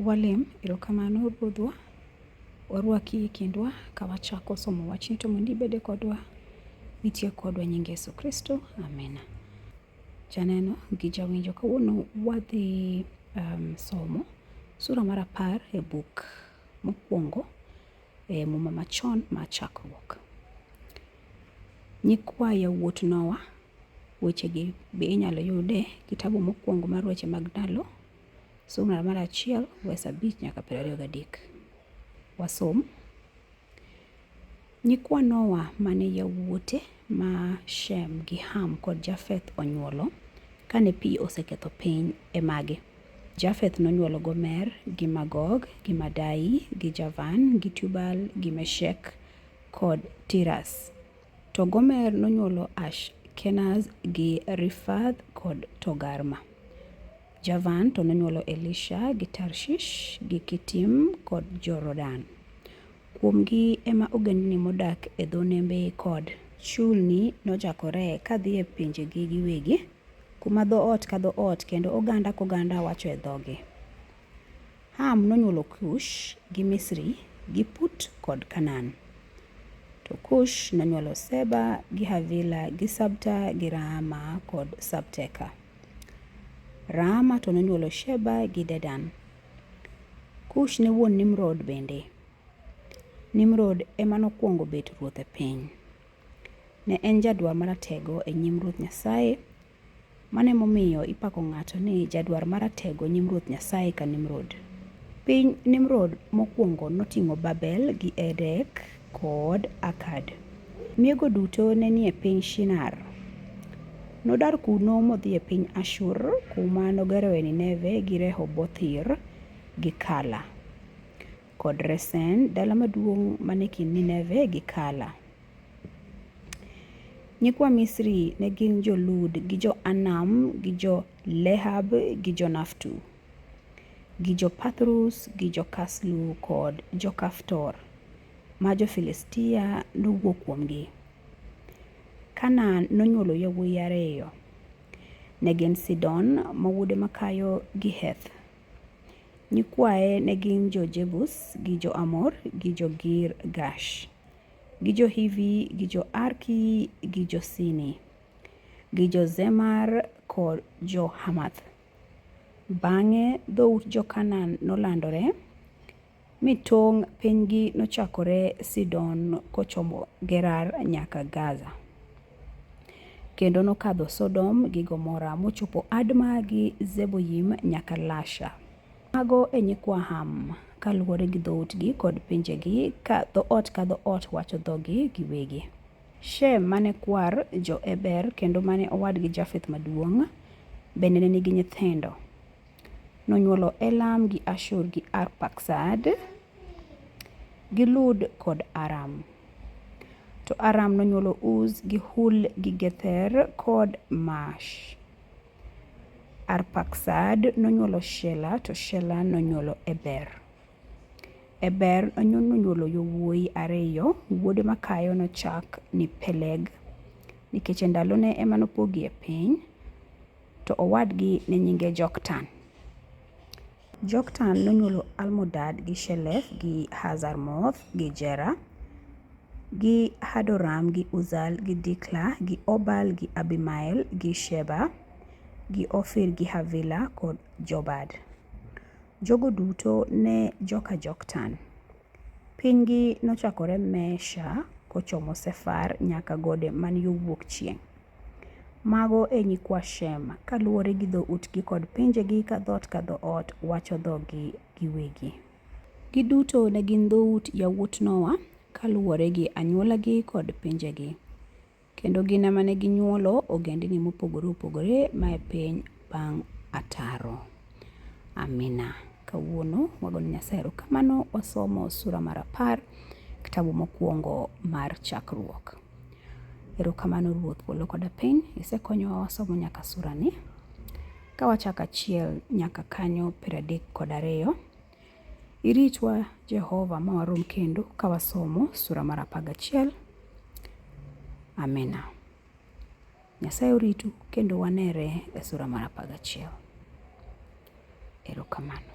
Walem, erokamano Ruodhwa, warwaki e kindwa ka wachako somo wachni to mondo ibede kodwa, nitie kodwa nying Yesu Kristo, amina. Janeno gi jawinjo, kawuono wadhi um, somo sura mar apar e buk mokwongo e Muma Machon ma Chakruok. Nyikwa yawuot Nowa, wechegi be inyalo yud e kitabu mokwongo mar weche mag ndalo, sura mar achiel wes abich nyaka piero ariyo gadek. Wasom. Nyikwa Nowa mane yawuote ma Shem gi Ham kod Jafeth onyuolo kane pi oseketho piny e magi. Jafeth nonyuolo Gomer gi Magog gi Madai gi Javan gi Tubal gi Meshek kod Tiras. To Gomer nonyuolo Ash Kenaz gi Rifath kod Togarma. Javan to nonyuolo Elisha gi Tarshish gi Kitim kod Jorodan. Kuomgi ema ogendni modak e dho nembe kod chulni nochakore kadhi e pinjegi giwegi. Kuma dhoot ka dhoot kendo oganda koganda wacho e dhogi. Ham nonyuolo Kush gi Misri gi Put kod Kanan. To Kush nonyuolo Seba gi Havila gi Sabta gi Raama kod Sabteka. Raama to nonyuolo Sheba gi Dedan. Kush ne wuon Nimrod bende. Nimrod ema nokwongo bet ruoth e piny. Ne en jadwar maratego e nyim Ruoth Nyasaye. Mano emomiyo ipako ng'ato ni jadwar maratego e nyim Ruoth Nyasaye ka Nimrod. Piny Nimrod mokwongo noting'o Babel gi Erek kod Akad. Miego duto ne nie piny Shinar. Nodar kuno modhi e piny Ashur kuma nogeroe Nineve gi Rehobothir gi Kala. kod Resen, dala maduong' mane kind Nineve gi Kala. Nyikwa Misri ne gin jo-Lud gi jo-Anam gi jo-Lehab gi jo-Naftu gi jo-Pathrus gi jo-Kaslu kod jo-Kaftor ma jo-Filistia nowuok kuomgi. Kanaan nonywolo yawuoyi ariyo. Ne gin Sidon ma wuode makayo gi Heth Nyikwaye ne gin jo-Jebus gi jo-Amor gi jo-Girgash gi jo-Hivi gi jo-Arki gi jo-Sini gi jo-Zemar kod jo-Hamath. Bang'e dhout jo-Kanaan nolandore, mi tong' pinygi nochakore Sidon kochomo Gerar nyaka Gaza, kendo nokadho Sodom gi Gomora mochopo Adma gi Zeboyim nyaka Lasha. Mago e nyikwa Ham kaluwore gi dhoutgi kod pinjegi ka dhoot ka dhoot wacho dhogi giwegi. Shem mane kwar jo-Eber kendo mane owadgi Jafeth maduong', bende ne nigi nyithindo. Nonyuolo Elam gi Ashur gi Arpaksad gi Lud kod Aram. To Aram nonyuolo Uz gi Hul gi Gether kod Mash. Arpaksad nonyuolo Shela to Shela nonyuolo Eber. Eber nonyuolo yowuoyi ariyo, wuode makayo nochak ni Peleg nikech e ndalone ema nopogie piny. to owadgi ne nyinge Joktan. Joktan nonyuolo Almodad gi Shelef gi Hazarmoth gi Jera gi Hadoram gi Uzal gi Dikla gi Obal gi Abimael gi Sheba gi Ofir gi Havila kod Jobad. Jogo duto ne joka Joktan. Pinygi nochakore Mesha kochomo Sefar nyaka gode man yo wuok chieng'. Mago e nyikwa Shem, kaluwore gi dhoutgi kod pinjegi ka dhoot ka dhoot wacho dhogi giwegi. Giduto ne gin dhout yawuot Nowa kaluwore gi anywolagi kod pinjegi, kendo gin ema ne ginywolo ogendini mopogore opogore mae piny bang' Ataro. Amina. Kawuono wagoyo Nyasaye erokamano, wasomo sura mar apar, kitabu mokwongo mar Chakruok. Erokamano Ruoth polo koda piny, isekonyowa wasomo nyaka surani. Ka wachako achiel nyaka kanyo piero adek kod ariyo, iritwa Jehova ma warom kendo ka wasomo sura mar apar gachiel. Amina. Nyasaye oritu kendo wanere e sura mar apar gachiel. Erokamano.